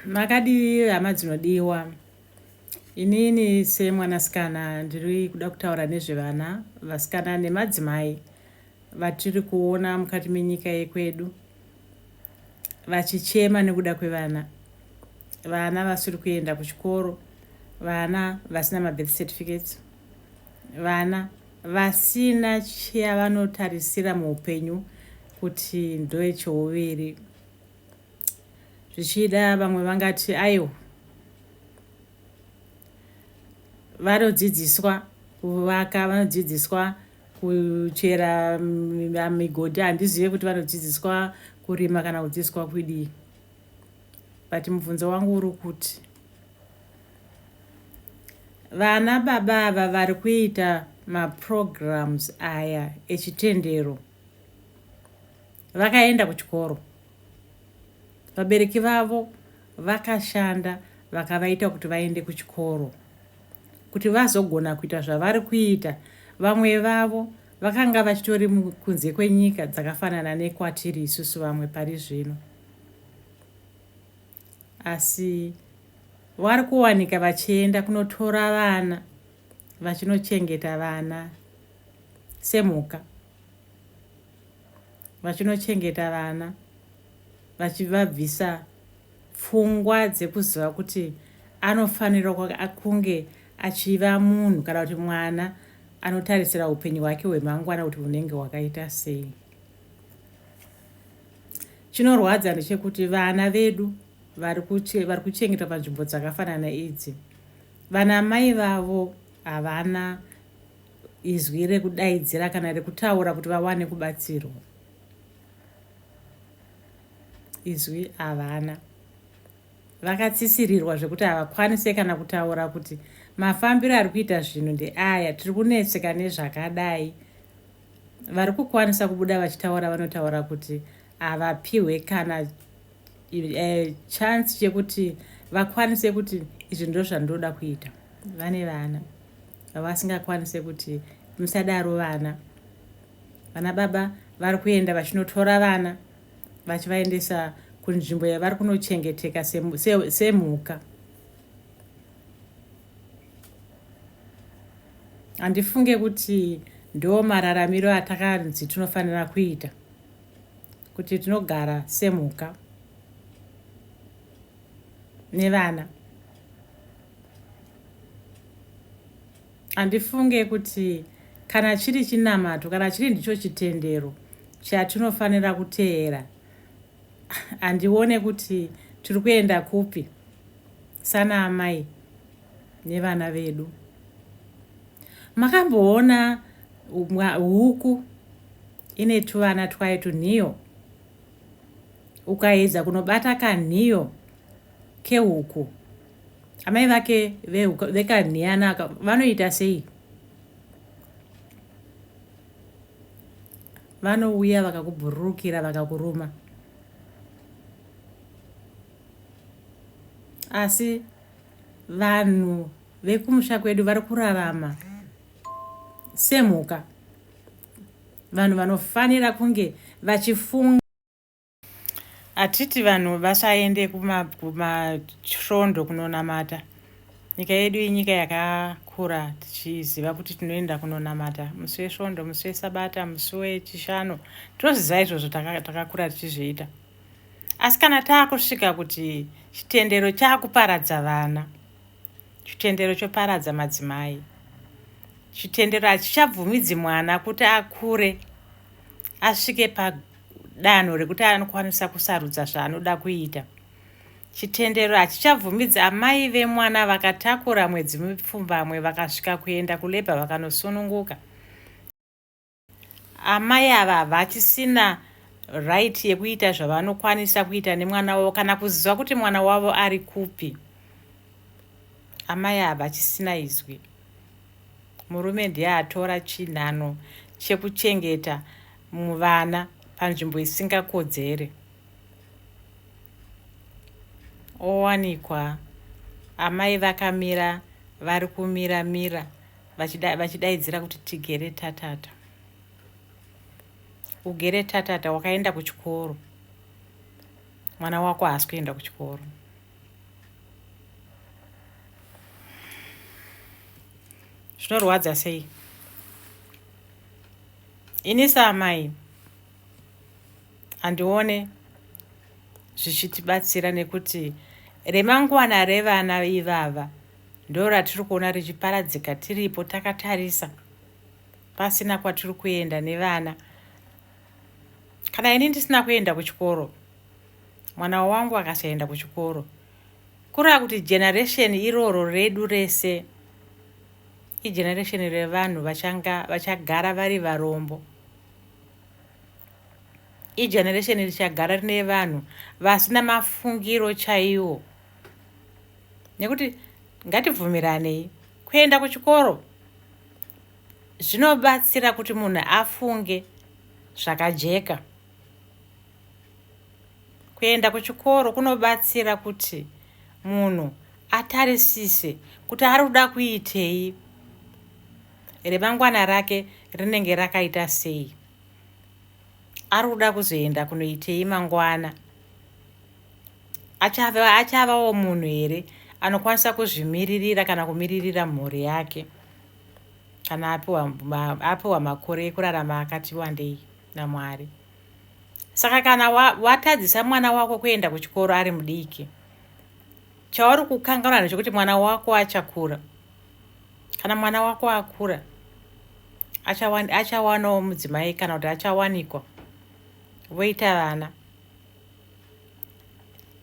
makadii hama dzinodiwa inini semwanasikana ndiri kuda kutaura nezvevana vasikana nemadzimai vatiri kuona mukati menyika yekwedu vachichema nekuda kwevana vana vasiri kuenda kuchikoro vana vasina mabirth certificates vana Vasina chavanotarisira muupenyu kuti ndoechouviri. Zvichida vamwe vangati aiwa vanodzidziswa kuvaka vanodzidziswa kuchera migodhi handizive kuti vanodzidziswa kurima kana kudzidziswa kudii but mubvunzo wangu uri kuti Vana baba ava vari kuita maprograms aya echitendero vakaenda kuchikoro vabereki vavo vakashanda vakavaita kuti vaende kuchikoro kuti vazogona kuita zvavari kuita vamwe vavo vakanga vachitori kunze kwenyika dzakafanana nekwatiri isusu vamwe pari zvino asi vari kuwanika vachienda kunotora vana vachinochengeta vana semhuka vachinochengeta vana vachivabvisa pfungwa dzekuziva kuti anofanira kunge achiva munhu kana kuti mwana anotarisira upenyu hwake hwemangwana kuti hunenge hwakaita sei Chinorwadza ndechekuti vana vedu vari kuchengetwa panzvimbo dzakafanana idzi, vana mai vavo havana izwi rekudaidzira kana rekutaura kuti vawane kubatsirwa. Izwi havana, vakatsisirirwa zvekuti havakwanise kana kutaura kuti mafambiro ari kuita zvinhu ndeaya, tiri kunetseka nezvakadai. vari kukwanisa kubuda vachitaura vanotaura kuti havapiwe kana uh, chance chekuti vakwanise kuti izvi ndo zvandoda kuita vane vana vasingakwanise kuti musadaro vana vana baba vari kuenda vachinotora vana vachivaendesa kunzvimbo yavari kunochengeteka semhuka se, se handifunge kuti ndo mararamiro atakanzi tinofanira kuita kuti tinogara semhuka nevana handifunge kuti kana chiri chinamato kana chiri ndicho chitendero chatinofanira kuteera handione kuti tiri kuenda kupi sana amai nevana vedu makamboona huku ine tuvana twayo tunhiyo ukaedza kunobata kanhiyo kehuku amai vake vekanhiyana vanoita sei Vanouya vakakubhururukira vakakuruma. Asi vanhu vekumusha kwedu vari kurarama semhuka. Vanhu vanofanira kunge vachifunga Hatiti vanhu vasaende kumasvondo kunonamata. Nyika yedu inyika yakakura tichiziva kuti tinoenda kunonamata musi wesvondo, musi wesabata, musi wechishanu. Tinozviziva izvozvo takakura tichizviita. Asi kana taakusvika kuti chitendero chaakuparadza vana, chitendero choparadza madzimai, chitendero hachichabvumidzi mwana kuti akure asvike pa danho rekuti anokwanisa kusarudza zvaanoda kuita chitendero hachichabvumidzi amai vemwana vakatakura mwedzi mipfumbamwe vakasvika kuenda kulebha vakanosununguka amai ava havachisina right yekuita zvavanokwanisa kuita nemwana wavo kana kuziva kuti mwana wavo ari kupi amai ava chisina izwi murume ndiye atora chinhano chekuchengeta muvana panzvimbo isingakodzere owanikwa amai vakamira vari kumira mira vachidaidzira kuti tigere tatata ugere tatata wakaenda kuchikoro mwana wako haasi kuenda kuchikoro zvinorwadza sei ini saamai handione zvichitibatsira nekuti remangwana revana ivava ndo ratiri kuona richiparadzika tiripo takatarisa pasina kwatiri kuenda nevana kana ini ndisina kuenda kuchikoro mwana wangu akasaenda kuchikoro kureva kuti generation iroro redu rese igeneration revanhu vachanga vachagara vari varombo igeneration richagara rine vanhu vasina mafungiro chaiwo nekuti ngatibvumiranei kuenda kuchikoro zvinobatsira kuti munhu afunge zvakajeka Kuenda kuchikoro kunobatsira kuti munhu atarisise kuti ari kuda kuitei, remangwana rake rinenge rakaita sei, ari kuda kuzoenda kunoitei mangwana, achava achavawo munhu here anokwanisa kuzvimiririra kana kumiririra mhuri yake kana apiwa apiwa makore ekurarama akati wandei namwari. saka kana watadzisa wa mwana wako kuenda kuchikoro ari mudiki chauri kukanganwa ndechekuti mwana wako achakura kana mwana wako akura achawanawo mudzimai kana kuti achawanikwa voita vana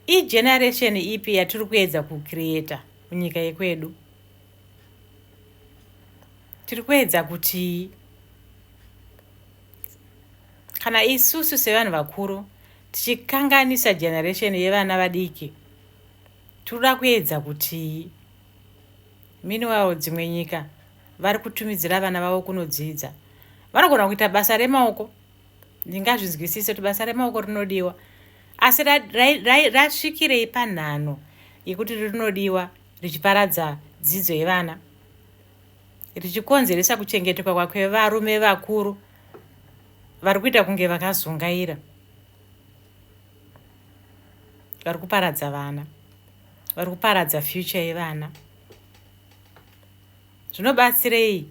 igeneration ipi yatiri kuedza kucreata munyika yekwedu tiri kuedza kuti kana isusu sevanhu vakuru tichikanganisa generation yevana vadiki tinoda kuedza kuti miniwawo dzimwe nyika vari kutumidzira vana vavo kunodzidza vanogona kuita basa remaoko ndingazvinzwisise kuti basa remaoko rinodiwa asi rasvikirei panhano yekuti rinodiwa richiparadza dzidzo yevana richikonzeresa kuchengetwa kwevarume vakuru vari kuita kunge vakazungaira vari kuparadza vana vari kuparadza future yevana zvinobatsirei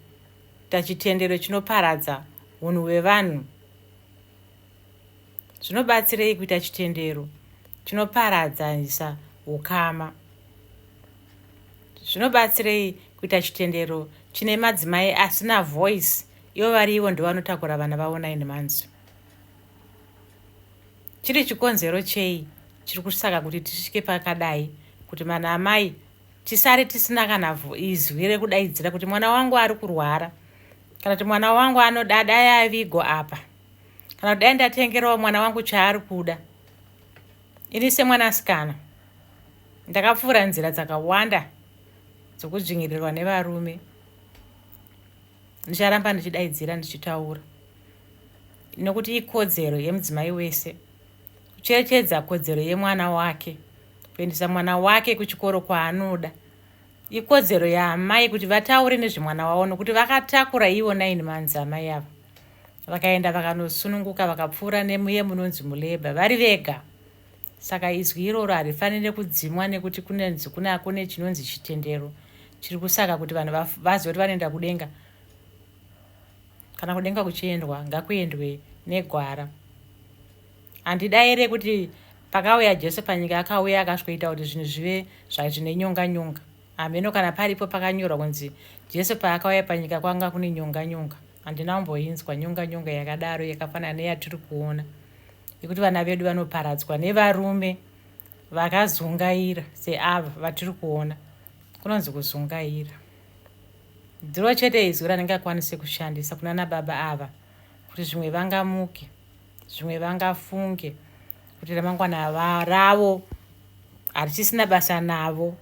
tachitendero chinoparadza unhu hwevanhu zvinobatsirei kuita chitendero chinoparadzanisa ukama zvinobatsirei kuita chitendero chine madzimai asina voice ivo vari ivo ndovanotakura vana vavo nine months chiri chikonzero chei chiri kusaka kuti tisvike pakadai kuti mana amai tisare tisina kana izwi rekudaidzira kuti mwana wangu ari kurwara kana kuti mwana wangu anoda dai avigo apa kana kuti dai ndatengerawo mwana wangu chaari kuda Ini semwanasikana ndakapfuura nzira dzakawanda dzokudzvinyirirwa nevarume. Ndicharamba ndichidaidzira ndichitaura nokuti ikodzero yemudzimai wese kucherechedza kodzero yemwana wake kuendesa mwana wake kuchikoro kwaanoda ikodzero yaamai kuti vataure nezvemwana wavo nokuti vakatakura ivo naini manzi amai ava vakaenda vakanosununguka vakapfuura nemuye munonzi muleba vari vega saka izwi iroro harifanire kudzimwa nekuti kunenzi kuna kune chinonzi chitendero chiri kusaka kuti vanhu vazive kuti vanoenda kudenga kana kudenga kuchiendwa ngakuendwe negwara handidaire kuti pakauya jesu panyika akauya akasvikoita kuti zvinhu zvive zvazvine nyonga nyonga hameno kana paripo pakanyorwa kunzi jesu paakauya panyika kwanga kune nyonga nyonga handina kumboinzwa nyonga nyonga yakadaro yakafanana neyatiri kuona yekuti vana vedu vanoparadzwa nevarume vakazungaira seava vatiri kuona kunonzi kuzungaira dziro chete izwi ranenge akwanise kushandisa kunana baba ava kuti zvimwe vangamuke zvimwe vangafunge kuti ramangwana ravo harichisina basa navo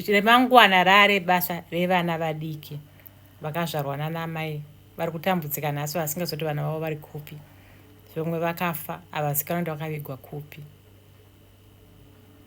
remangwana rare basa revana vadiki vakazvarwa nana amai vari kutambudzika nhasi vasingazoti vana vavo vari kupi vamwe vakafa havazikanwa kuti vakavigwa kupi